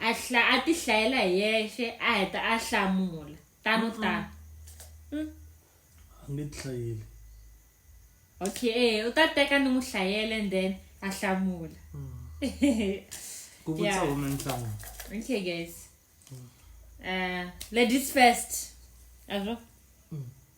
a hla a ti hlayela hi yexe a heta a hlamula tano tano mm. a nge ti hlayeli okay e u ta teka ni n'wi hlayela and then a hlamula mm. ku vutisa hume nhlanga okay guys mm. uh, ladies first azvo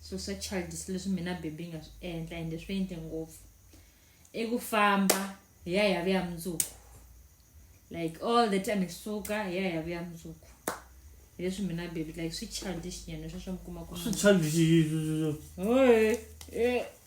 swilo swa childish leswi mina bebi yi nga swi endla ende swi endle ngopfu i ku famba hi ya hi ya vuya mundzuku like all the time hi suka hi ya hi ya vuya mundzuku hi leswi mina bebi like swi childish nyana sweswo mi kuma ku swi childish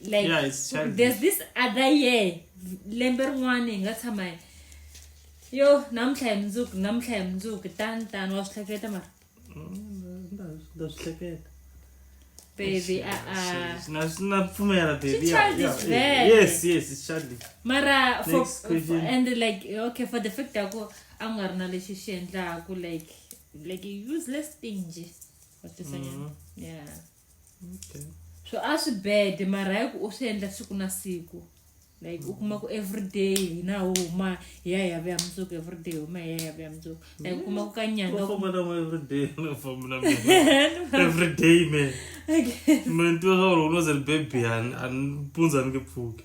like yeah, it's there's this other year lembe rin'wana hi nga tshama yo namuntlha hi mundzuku namuntlha hi mundzuku tani tani wa swi hleketa mara nda swi hleketa baby na pfumela babyes yes it's childish mara for, for, and like okay for the fact ya ku a nga ri na lexi xi endlaku like like useless thing nje watisanyana mm-hmm. yeah okay so a swi bede mara hi ku u swi endla siku na siku like u kuma ku everyday hina ho huma hi ya hi ya vuya mundzuku everyday huma hi ya hi ya vuya mundzuku like u kuma ku ka nyanga everyday me me ntiwa swa ku loko no ze ni bebiyani a ni pundza ni nge pfuki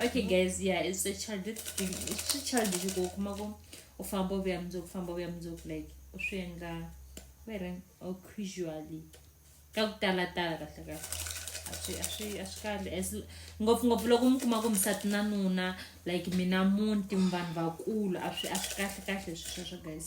okay guys yeah it's a childish thing it's a childish go kuma ko u famba u vuya mundzuku famba u vuya mundzuku like u swi endla were or casually ka ku talatala kahle kahle a swi a swi a swi kahle as ngopfungopfu loko mi kuma ku misati na nuna like mina munti mi vanhu vakulu a swi a swi kahle kahle swi sweswo guys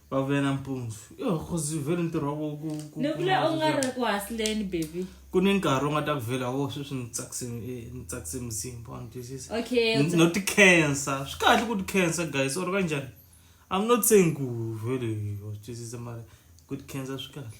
va vuyela mpundzu yo khozi vhele ntirho wa voko nekule u nga ri ku hasileni baby ku ni nkarhi u nga ta ku vhela wo sweswi ni tsakise eh, ni tsakise muzimba wa ni twisisa okay no ti cancer swi kahle ku ti cancer guys or kanjani i'm not saying ku vhele wa twisisa mara ku ti cancer swi kahle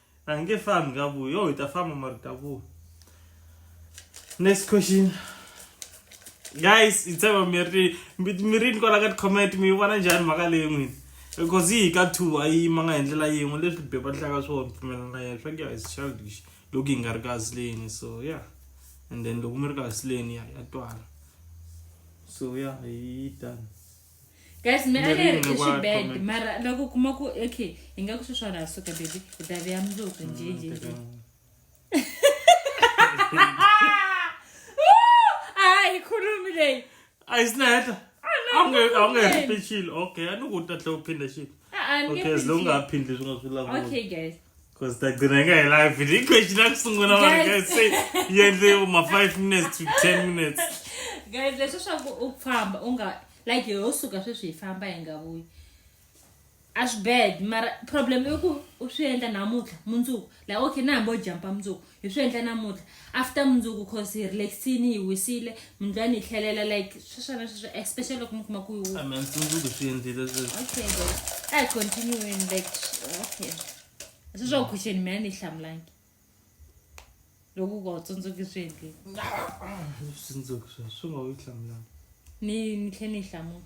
a hi nge fambi ka vuyi yo hi ta famba mara ta vuyi next question guys hi tshemba mi ri mi ri ni kwala ka ti-comment mi yi vona njhani mhaka leyi n'wini because yi hi ka two a yi yimanga hi ndlela yin'we leswi be va hlaka swona pfumelana yena swa ku ya is childish loko hi nga ri ka sileni so ya and then loko mi ri ka sileni ya ya twala so ya hi tani guys me a ri ri swi bad mara loko kuma ku okay hi nga ku sweswiwani ha suka baby hi ta veya mundzuku mm, njhenjhenje a hi khulumi leyi a yi sinaheta a wu nga hi ri xilo okay a ni ku u ta tlhe u phinda xilo okay as long nga ha phindli swi nga swi lavuoka Cause tagcina ka hi live ni question la kusungula vanhu guys say yi endle ma 5 minutes to 10 minutes guys leswi swa ku u famba u nga like yo suka sweswi hi famba hi nga vuyi a swi bad mara problem i ku u swi endla namuntlha mundzuku like okay na hambi u jampa mundzuku hi swi endla namuntlha after mundzuku cause hi relaxini hi wisile mindlwani hi tlhelela like sweswana sweswo especially loko mi kuma ku hi a mundzuku swi endlile okay a hi continueni like okay sweswa ku question mina ni hlamulangi loko ku tsundzuki swi endlile switsundzuki swa swi nga wu hlamulangi ni ni tlhe ni hlamula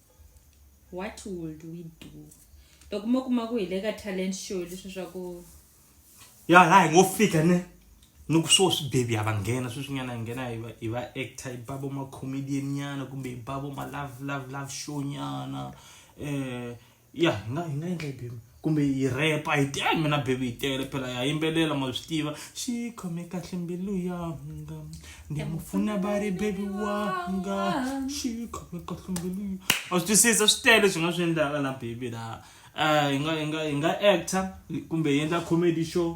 what would we do loko mo kuma ku hi le ka talent show leswi swa ku ya laha hi ngo fika ne ni ku swo swi bebi a va nghena sweswinyana hi nghena hi va actor hi ba vo macomedian nyana kumbe hi ba vo ma love love love show nyana um ya hi nga hi nga endla hi bebi kumbe yi repa hi ti ayi mina bebi yi tele phela ya yimbelela ma swi tiva xi khome kahle mbilu yanga ni mu pfuna va ri bebi wanga xi khome kahle mbilu a swi twisisa swi tele swi nga swi endlaka na bebi laha um hi nga hi nga hi nga actor kumbe hi endla comedy show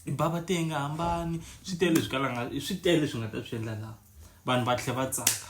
hi bava te hi nga hambani swi tele swi kalanga swi tele swi nga ta swi endla laha vanhu va tlhe va tsaka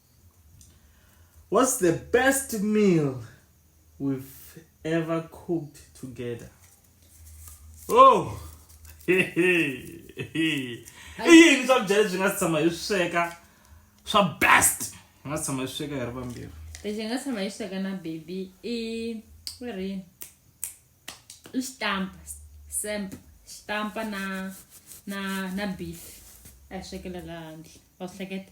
What's the best meal we've ever cooked together? Oh! i yini swakudya leswi nga si tshama hi swi sweka swa best hi nga si tshama hi swi sweka hi ri vambirhi lexi hi nga tshama hi swi sweka na baby i ku ri i xitampa semp xitampa na na na beef a hi swekela laha handle wa swi hleketa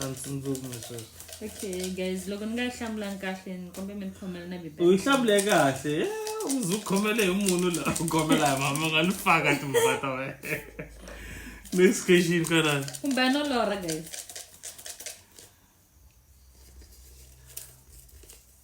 a ndzi tsundzuki misweswo okay guys loko ni nga yi hlamulanga kahle ni kombe mi ni khomela na u yi hlamule kahle u ndzi u khomele hi munhu la u khomela hi mama nga ni faka timhaka ta wena next question kana kumbe no lora guys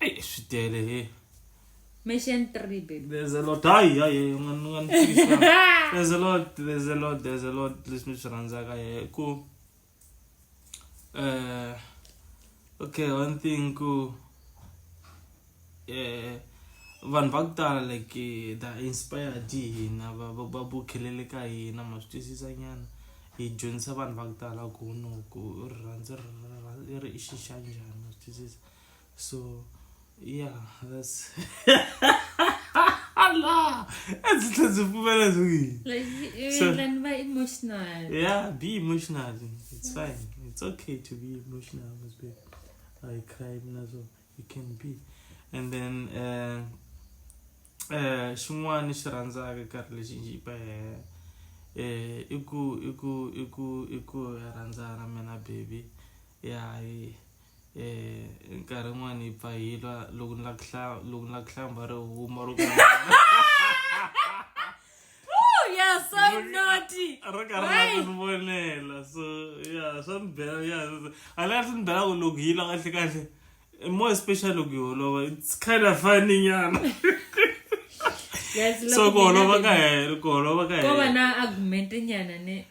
Eyi swi tele he. Mission 3 baby. There's a lot. Hayi hayi u nga ni nga ni fikisa. There's a lot, there's a lot, there's a lot leswi ni swi rhandzaka he ku eh okay one thing ku eh vanhu va ku tala like eh, the inspired hi hina va va va bukhelele ka hina ma swi twisisa nyana hi dyondzisa vanhu va ku tala ku no ku rirhandzu ri ri- ri ri i xi xa njhani ma swi twisisa. so yeah that's Allah that's that's a woman doing like so, then very emotional yeah be emotional it's yes. fine it's okay to be emotional must be I cry as well you can be and then uh uh xin'wana xi rhandzaka karhi lexi njhi pa eh i ku i ku i ku i ku rhandzana mina baby ya yeah, um nkarhi yin'wana hi pfa hi lwa loko ni la ku hlaya loko ni la ku hlamba ri huma ro ro karhi ni vonela so ya swa ni bela ya hala swi ni bela ku loko hi lwa kahle kahle more especially loko hi holova it's kind of funny nyana so ku holova ka hela ku holova ka hela ko va na argument nyana ne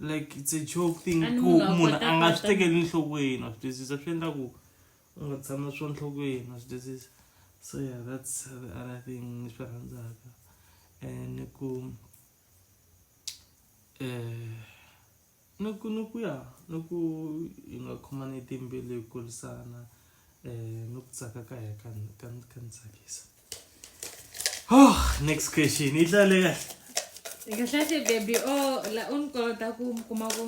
like it's a joke thing ku munhu a nga swi tekeli nhlokweni wa swi twisisa swi endla ku u nga tshama swo nhlokweni wa swi twisisa so yeah that's the other thing ni swi rhandzaka and ku um ni ku ni ku ya ni ku hi nga khomani timbilu hi kulisana um ni ku tsaka ka ya ka ka ka ni tsakisa Oh, next question. Yi tlale kahle. Hi kahle kahle baby o oh, la u ni kolota ku mi kuma ku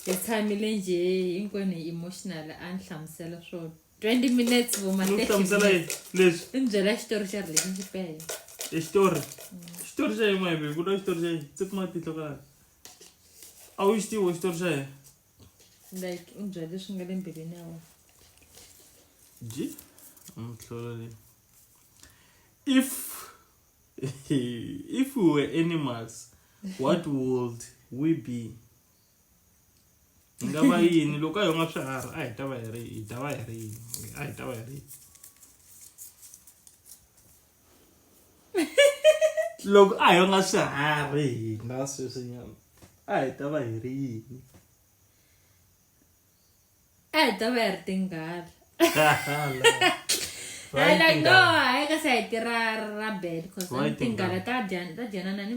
hi tshamile nje hinkwenu hi emotional a ni hlamusela swo 20 minutes vuma ni hlamusela leswi i ni byela xitori xa relationship ya hina i xitori xitori xa yin'we hi ku lwa xitori xa yini tse kuma tihlo ka a wu xi tivo xitori xa yena like u bya leswi nga le mbilwini ya wena ji mtlholo leyi if if we were animals what would we be nga va yini loko a hi nga swiharhi a hi ta va hi ri hi ta va hi ri yini a hi ta va hi ri yini loko a hi nga swiharhi hina sweswinyana a hi ta va hi ri yini a hi ta va hi ri tinghala hayi like no hayi kasi a hi tirha ra bad cause tinghala ta dyanana ni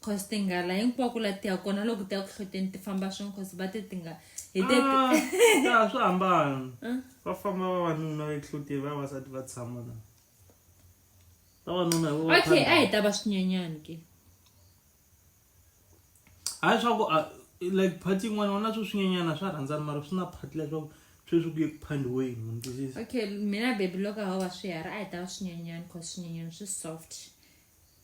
cause ti nga la hinkwako la ti ya kona loko ti ya ku hloteni ti famba swin'we cause va te ti nga hi te ah, swi hambana ah. va famba vavanuna ehloteni vavasati va tshama na vavanuna okay a hi ta va swinyanyani ke hayi swa ku ah, like phati yin'wana wona swo swinyanyana swa rhandzana mara swi na phati leswaku sweswi ku ye ku phandiweni munhu okay mina bebi loko a ho va swiharhi a hi ta va swinyanyani cause swinyanyani swi soft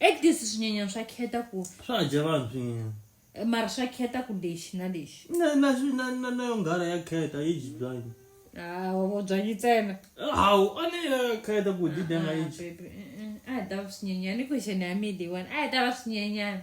ekdis swinyanyani swa kheta ku swa dya vanhu swinyanyani eh, mara swa kheta ku lexi na lexi na yo nghala ya kheta yi dyi byanyi hawu byanyi ntsena hawu a ni ya kheta ku dyi danga yi a hi ta va swinyanyani i question ya mi leyiwani a hi ta va swinyanyani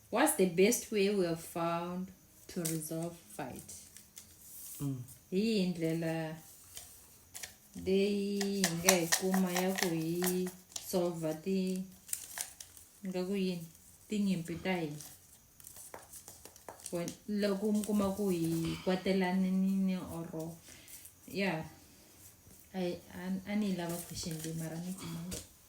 what's the best way we have found to resolve fight mm. yihi ndlela leyi hi nga yi kuma ya ku hi solva ti nga ku yini tinyimpi ta hina loko mi kuma ku hi kwatelanini oro ya a ni yi lava question leyi mara ni kumanga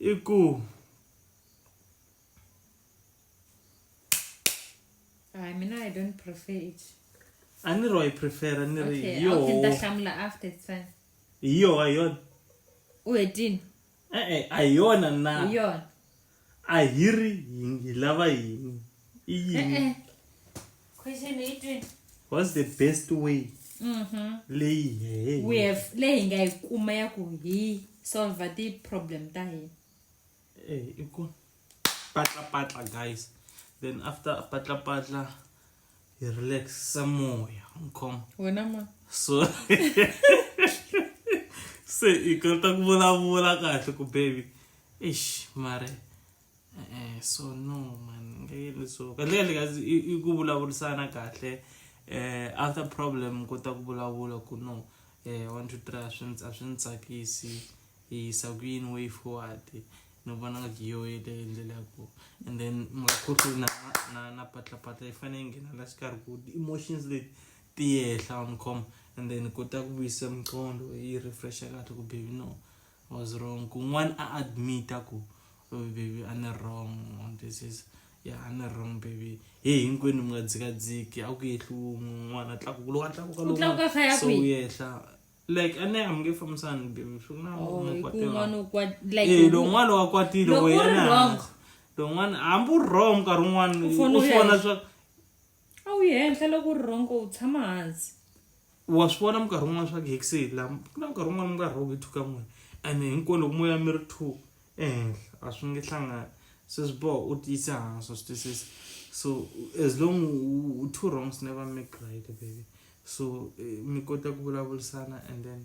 i ku hayi mina i don't prefer it a ni ro yi prefera ni ri okay yo okay ta hlamula after it's fine hi yo a yo u hetini eh eh a yona na yo a hiri hi lava yini i yini eh, eh. what's the best way mm-hmm. leyi we have leyi hi nga yi kuma ya ku hi solve ti-problem ta hina eh, i ku patlapatla guys then after patlapatla hi relax samoya nkhoma wena ma so se i kota ku vulavula kahle ku baby eish mare Eh, so no man ngeke leswo kahle kahle kazi i i ku vulavurisana kahle eh after problem kota ku vulavula ku no eh one two three a swi ndzi a swi ndzi tsakisi hi yisa ku yini way forward ni vona nga yo yeleyo ndlela ya ku and then makhutlo na na na patlapatla yi fanele yi nghena la xikarhi ku emotions leti ti yehla on com and then kota ku vuyisa miqondo yi refresh kahle ku baby no I was wrong kun'wana a admit-a ku oh baby a ni wrong this is ya a ni wrong baby he hinkwenu mi nga dzikadziki a ku yehli wun'we un'wana a tlakuka loko a tlakuka Ku tlakuka kha ya so kwihi? wu yehla like a ne a mi nge fambisani baby swi na Oh, mi hi ku kwatela. un'wana u kwa- like, Eh, lowun'wana wa kwatile Loko wo u ri yena wrong. lowun'wana hambi u ri wrong nkarhi wun'wana U fanele u u swi ya vona hi- swa a wu yi henhla loko u ri rhongo u tshama hansi wa swi vona minkarhi wun'wana swa ku hekisi la ku na nkarhi wun'wana mi nga rhongo yi thuka n'wina and hinkwenu loko moya mi ri two ehenhla a swi nge hlangani se swi boha u tiyise hansi wa swi twisisa so as long u two wrongs never make right baby so eh, mi kota ku vulavurisana and then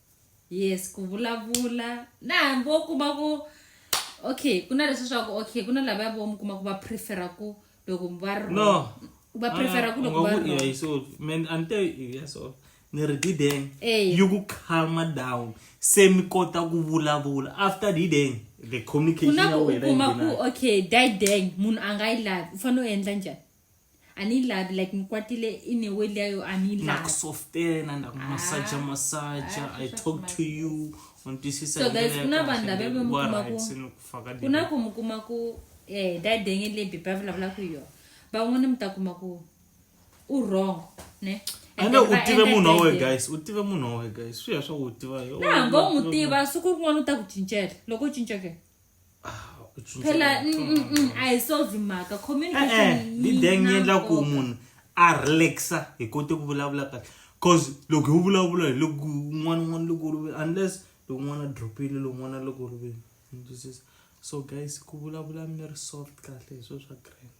yes ku vulavula na hambi wo kuma ku okay ku na leswi swa ku okay ku na lava ya vo mi kuma ku va prefera ku loko va ri no wrong. va prefera ku loko va ri wrong. so man ante yeah so ni ri dideng Eh. you ku calma down se mi kota ku vulavula after dideng the ku communication na ya ku u wena yi kuma ku nghena. okay dideng munhu a nga yi lavi u fanele u endla njhani anilavi like ngikwatile in a way leyo anilavi ndakusoftela ndakumasaja masaja Ah, i sweswo talk to swi you undisisa So guys, kuna vanhu lava va mi kumaku- ku na ku mi kuma ku um dadenge leyi bibi a vulavula ku yona van'wana mi ta kuma ku u wrong ne And ande then u va tive endla munhu wa wena dadenge. guys u tive munhu wa wena guys swi ya swa ku u tiva yo- na hambi u n'wi tiva siku rin'wana u ta ku cincela loko u cinca ke phela mm, mm, mm, a hi solve mhaka communicationlideng eh, eh, yi endla ku munhu a relaxa hi kote ku vulavula kahle cause loko hi vulavula hi loko un'wana un'wana loko u rivele unless loko un'wana a dropile loko un'wana loko u rivele so guys ku vulavula mi ri soft kahle hi swilo swa grand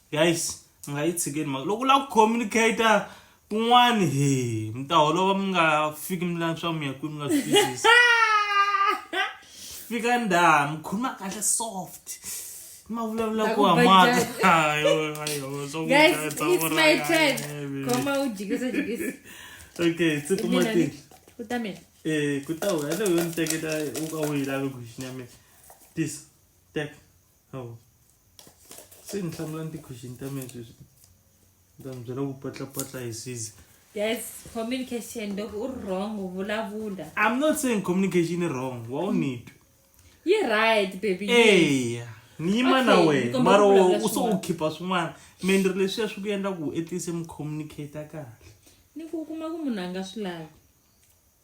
guys mi nga yi tshikeni mhaka loko u lava ku communicator kun'wani he mi ta holova mi nga fiki mi lava swa mi ya kwini mi nga swi twisisi fika ndhaha mi khuluma kahle soft ma vulavula ku hamata Guys, it's my turn. Khoma u jikisa jikisa. okay se kuma Mina tini ni- Ku ta mina. Eh, ku ta wena leyi yo ni teketa u ka u yi lavi ku xinyamela tisa tek hawu se ni hlamula ni ti-question ta mina sweswi ni ta mi byela ku patlapatla hi size That's communication. Dog, u wrong. Vulavula. i'm not saying communication is wrong wa u nitwe You're right, baby. eya ni yima na Okay, wena ni kombela mara ku vulavula u so u swin'wana. khipha swin'wana me ni ri leswiya swi ku endla ku etise mi communicate kahle Ni ku kuma ku munhu a nga swi lavi.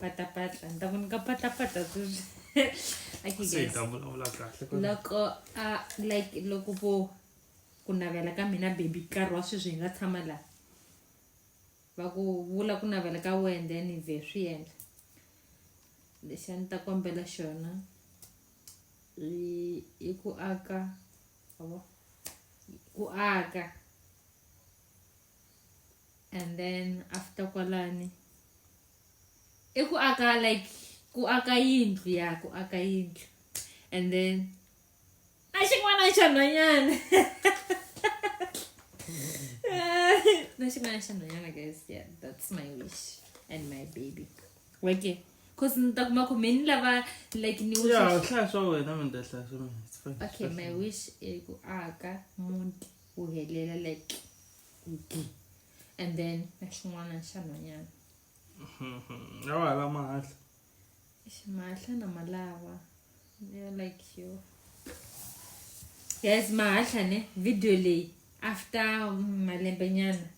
patapatla ni ta ku nyika patapatla sweswi loko a like loko vo ku navela ka mina baby nkarhi wa sweswi hi nga tshama laha va ku vula ku navela ka wena then hi vhe swi endla lexi a ni ta kombela xona i ku aka ku aka and then after kwalani i ku aka like ku aka yindlu ya ku aka yindlu and then a xin'wana xa nhwanyana na xin'wana xa nhwanyana guys yeah that's my wish and my baby weke cause ni ta kuma ku me ni lava like ni hlaya swa wena mi ta hlaya swa mina okay my wish i ku aka muti wu helela like and then na xin'wana xa nhwanyana a wa hala mahahla mahahla na malava ya like yo guys mahahla ne video leyi after malembe nyana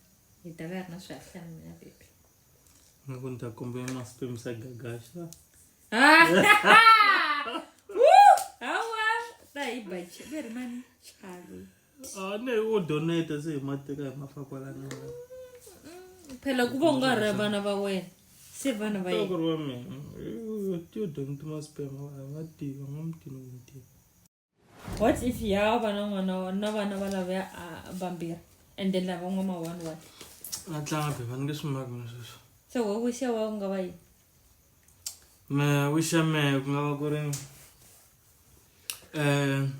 hi ta va ri na swihahlana na baby ni ku ni ta kombela masikwemisa gagaxa ne o donate se hi mateka hi mafakwalana phela ku va u nga ri vana va wena se vana va yena ku ri wa mina yo donate maspema va nga tiva nga mutini wuntima what if ya va na n'wana wa- na vana va lavaya vambirhi and then lava n'wa ma one one a tlanga phepha ni nge swi maki na sweswo so we wish ya wa ku nga va yini me wish ya mehe ku nga va ku ri um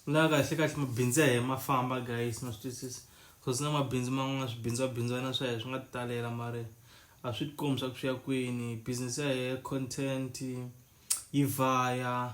la kahle kahle mabindzu ya hehe ma famba guys na swi twisisa bcause na mabindzu man'wana swibindzwabindzwana swa hehe swi nga talela mari a swi tikombi swa ku swi ya kwini business ya hehe content yi vaya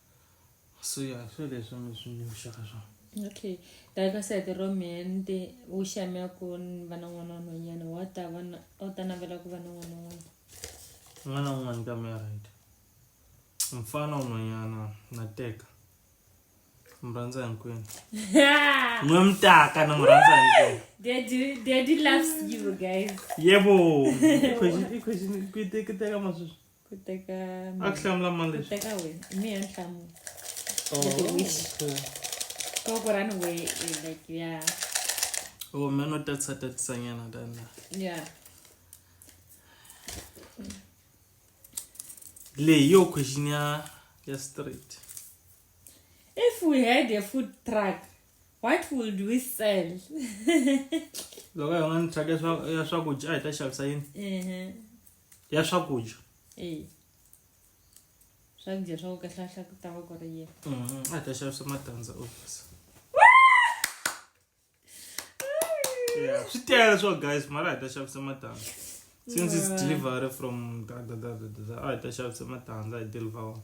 so ya swo leswi mi swi ni vuxaka swona okay ta ka sete ro mende u xamya ku va na n'wana n'wanyana wa ta va na u ta navela ku va na n'wana n'wana n'wana un'wana ka mehe right mfana un'wanyana na teka mi rhandza hinkwenu n'we mi taka na mi rhandza hinkwenu yebo i question i question ku teka teka masweswi ku teka a ku hlamula mani ku leswi teka wena i mi ya ni hlamula Oh, With the wish. okay. koko rani we eh, like ya oh me no tatisa tatisanyana tana ya leyi yo question ya ya straight if we had a food truck what would we sell loko hi nga ni truck ya swa- ya swakudya a hi ta xavisa yini Ehe. ya swakudya eyi swakudya swa ku kahlahla ku ta va ku ri yini a ta xavisa matandza obvious yeah swi tele swo guys mara hi ta xavisa matandza since it's delivery from da da da da da a hi ta xavisa matandza hi deliver wona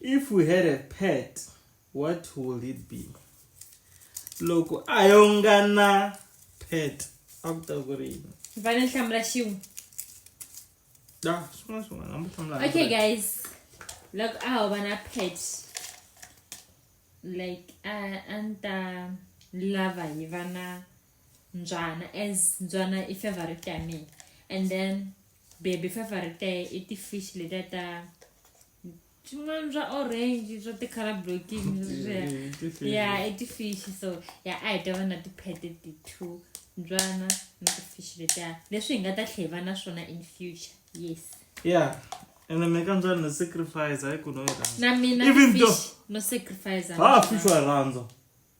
if we had a pet what will it be loko a yo nga na pet a ku ta ku ri yini va ni hlamula xin'we da swin'wana swin'wana a mu hlamula okay guys loko a ho va na pet like a a ni ta lava hi va na mbyana as mbyana i favorite ya mina and then baby favorite ya i ti-fish letiya ta swin'wana swa orange swa ti-color blocking ya i ti-fish so ya a hi ta va na ti-pete ti-two mbyana na ti-fish letiya leswi hi nga ta tlhe hi va na swona in future yes yeah ene mi ka njhani no sacrifice hayi ku no yi rhandza na mina even though no sacrifice ha fish wa rhandza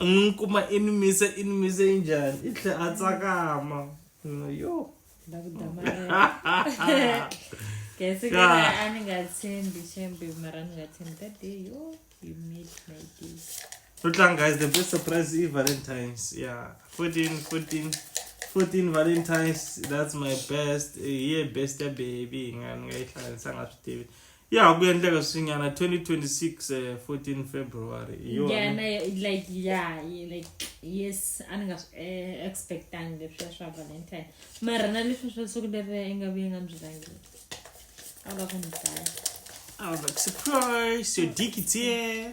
n'wi kuma i ni mise i ni mise yi njhani i tlhe a tsakama yo la ku damarela kese kera a ni nga tshembi xembe mara ni nga tshembi that day yo you made my day no tlanga guys the best surprise i valentines yeah 14 14 14 valentines that's my best eh, ye best ya baby nga ni nga yi hlanganisanga swi tivi ya ha ku endleka swinyana 2026 uh, 14 february hi yona. yeah na like yeah ye- like yes a ni nga swi eh, expectangi leswiya swa valentine mara na leswi swa siku leri i nga vuye nga byi langeli a wu la ku ni dlaya I was like, surprise, your dick is here.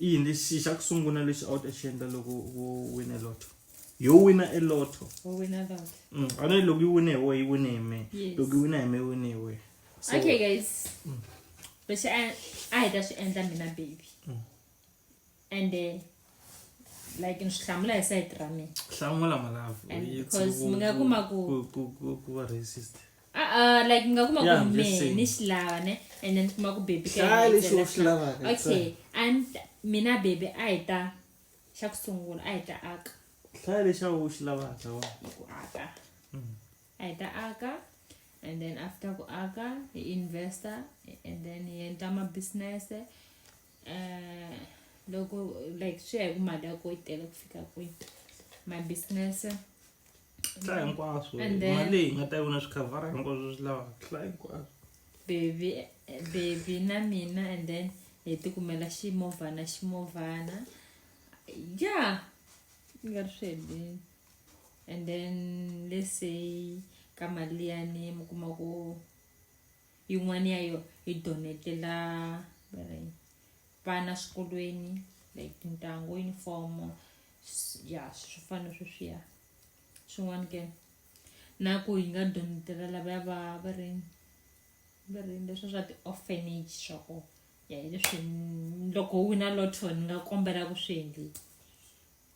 i yini lexi xa ku sungula lexi a wu ta xi endla loko wo wina lotto yo wina e lotto mm, a ne loko yi wine hi wehe yi wine hi me loko yi wina hi me yi wine hi wehe okay guys mm. lexi a hi ta swi endla mina baby mm. and eh, like ni swi hlamula hi sayiti ra mina hlamula malavu because mi nga kuma ku ku va racist Uh-uh, like ngakuma yeah, kume nishilava ne and then kuma kubebikaokay and mina bebe a hi ta xa ku sungula a hi ta aka hlaya lexa u xi lavaka wa ku aka mm. a hi ta aka and then after ku aka hi investor and then hi endla mabusiness um eh, loko like swi ya hi ku mali ya ko yi tele ku fika kwihi mabusiness hla hinkwaswo mali hi nga ta vona swi khavhara hinkwaswo swi lavaka hla hinkwaswo bebi bebi na mina and then hi ti kumela ximovhana ximovhana ya i nga ri swi helini and then let's say ka mali liyani mi kuma ku yin'wana ya yo hi donetela vana swikolweni like tintangu yunifomo ya swi fana sweswiya swin'wana ke na ku yi nga donetela lavaya va va ri va ri leswi swa ti-orphanage swa ko ya hi leswi loko wu na lotto ni nga kombela ku swi endlisa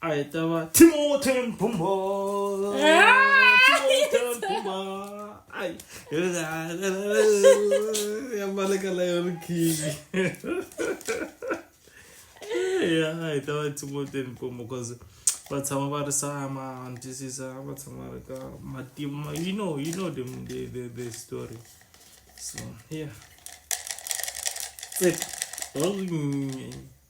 A hi ta va Timothy Mbumbo. Timothy Mbumbo. Ai. Ya maleka la yo king. Ya hi ta va Timothy Mbumbo cuz va tshama va ri sama ntisisa va tshama ri ka matima you know you know the the the, the story. So yeah. Tsek. Oh.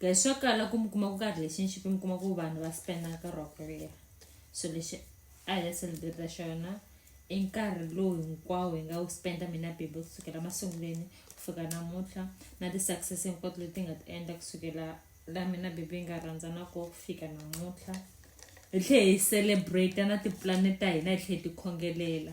guys swa kala ku mi kuma ku ka relationship mi kuma ku vanhu va spenda nkarhi wa ku leha so lexi a hi ya celebrate xona i nkarhi lowu hinkwawo hi nga wu spenda mina bible kusukela masunguleni ku fika namuntlha na ti-success hinkwato leti nga ti endla kusukela la mina bible yi nga rhandzana ko ku fika namuntlha hi tlhe hi celebrate na tipulani ta hina hi tlhe hi tikhongelela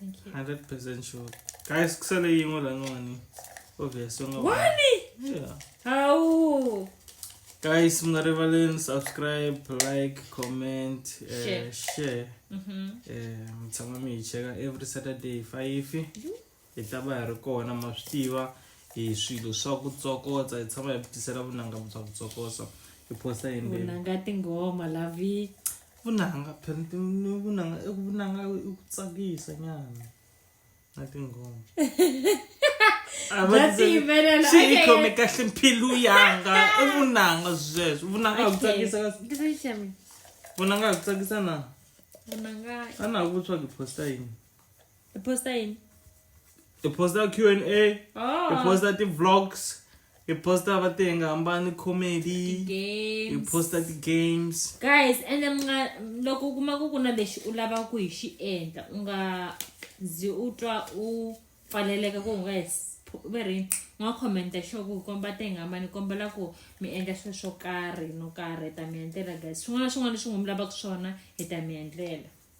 Thank you. 100% sure. Guys, kusele yin'we la n'wani. Obvious. Wani? Yeah. Awu. Guys, mngarivalen subscribe, like, comment, uh, share. share. Mhm. Eh, mtshama mi hi cheka every Saturday 5. Hi ta va hi ri kona ma swi tiva hi swilo swa ku tsokotsa, hi tshama hi tisela vunanga bya ku tsokotsa. Hi posta hi Vunanga tinghoma lavi. vunanga phela vunanga i vunanga i ku tsakisa nyana na tinghoma xiyikhome kahle mpilu yanga i vunanga zweswo vunanga a ku tsakisa kasi vunanga a ku tsakisa na ana ha ku tswa ku posta yini hi posta yini hi posta q and a hi oh. posta ti-vlogs hi posta va ti nga hambani comedy hi posta ti-games guys ende mi nga loko u kuma ku ku na lexi u lavaka ku hi xi endla u nga zi u twa u pfaleleka ku u nga hi va ri nga khomenta xo ku komba te nga mani kombela ku mi endla swilo swo karhi no karhi hi ta mi endlela guys swin'wana na swin'wana leswi n'wi mi lavaka swona hi ta mi endlela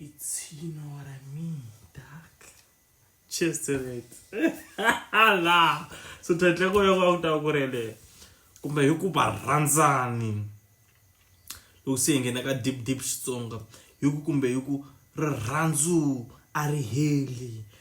Itino ara mi, tak. Cheers to that. La. So title ko yoko akuta kurele. Kumbe hi ku ba rhandzani. Loko se ngena ka deep deep Xitsonga. Hi ku kumbe hi ku rirhandzu a ri heli.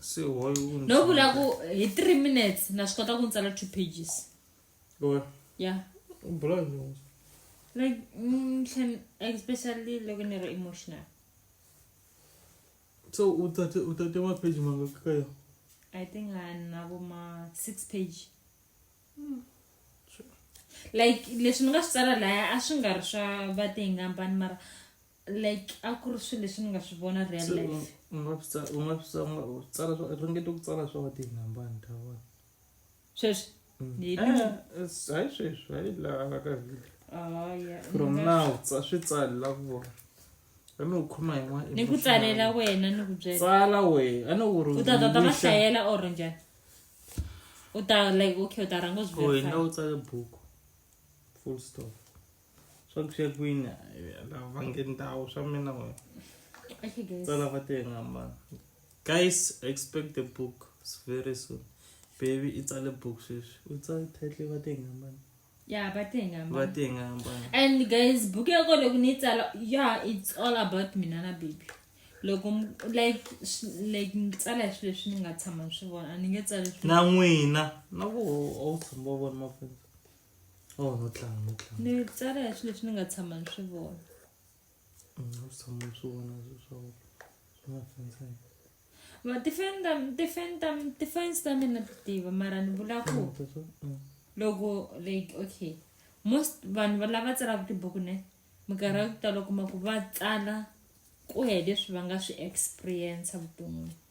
se why u ndzi- no vula ku hi three minutes na swi kota ku ni tsala two pages Why? ya U bula hi yini? like mm, tlhe- especially loko ni ri emotional so u tate u tate mapheji mangaki ka yona i think a ni na vo ma six page like leswi ni nga swi tsala laya a swi nga ri swa vatingambani mara like a ku ri swilo leswi ni nga swi vona real life u nga swi tsala u nga swi tsala u tsala swa ringete ku tsala swa ti nambani ta vona sweswi mm. eh, eh, hayi sweswi hayi laha ka video oh, from now swi tsali la ku vona ani u khoma yin'wana ni ku tsalela wena ni ku byela tsala wena ani u ri u ta ta ta va hlayela or njhani u ta like okay u ta rhanga u swi verify wena u tsale buku full stop swa ku ya kwini lava va nge ndhawu swa mina wena va lava tenga mani guys expect the book very soon baby i tsale book sweswi u tsale title va tenga mani ya va tenga mani va tenga mani and guys book ya kona loko ni yi tsala ya it's all about mina na baby loko like like ni tsala swilo leswi ni nga tshama ni swi vona a ni nge tsali na n'wina na ku a wu tshama wa vona maphepha oh no tlanga no tlanga ni tsala hi swilo leswi ni nga tshama ni swi vona mm, a swi tshama ni swi vona swa mafenseni tifeni ta tifeni ta tifeni ta mina ti tiva mara ni vula ku mm. loko like okay most vanhu va lava tsalaka tibuku ne minkarhi ya ku tala kuma ku va tsala ku ya hi leswi va nga swi experience vuton'wini